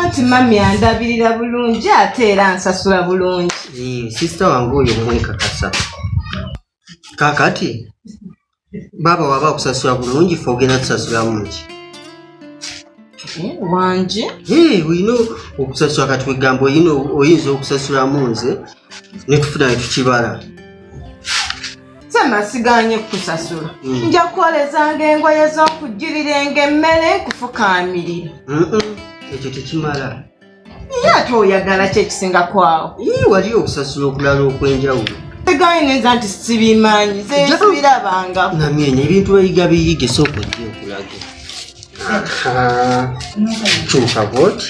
anti mami andabirira bulungi ate era nsasula bulungi sisita wange oyo mwekakasa kakati baaba waba akusasula bulungi fe ogenda tusasulamungi wangi olina okusasula kati wegamba oyinza okusasulamu nze netufuna netukibala sema siganye kukusasula mm. nja kukolezanga engoye z'okujjirirenga emmere nkufukaamirira ekyo tekimala ye ate oyagala ki ekisingako awo wali okusasula okulala okw'enjawulo sigaye nenza nti sibimanyi zebirabanga namyenya ebintu bayiga biyige sooka ojja okulaga kyuka bwoti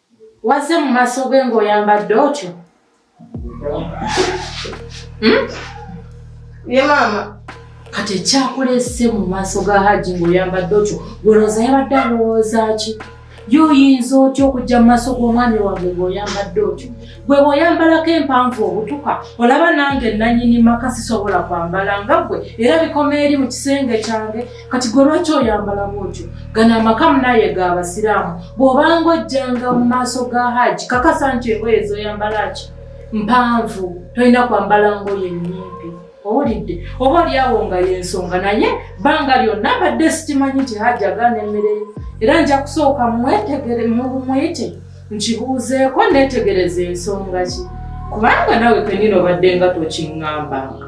Wazze mu maaso ge ng'oyambadde otyo? Hmm? Ye maama. Kati ekyakulese mu maaso ga Hajji ng'oyambadde otyo, gwolooza yabadde alowooza ki? Ye oyinza otya okujja mu maaso g'omwami wange ng'oyambadde otyo? gwe bwoyambalako empanvu obutuka olaba nange nanyini maka sisobola kwambala nga gwe era bikoma eri mu kisenge kyange kati gwe lwaki oyambalamu otyo gano amaka munaye ga abasiraamu bw'obanga ojjanga mu maaso ga haaji kakasa nti engoye zoyambalaki mpanvu tolina kwambala ngoye nyimpi owulidde oba olyawo nga yensonga naye banga lyonna mbadde sikimanyi nti hajja gaana emmere era nja kusooka mwetegere mumuyite nkibuuzeeko neetegereza ensonga ki kubanga nawe kenyini obadde nga tokiŋŋambanga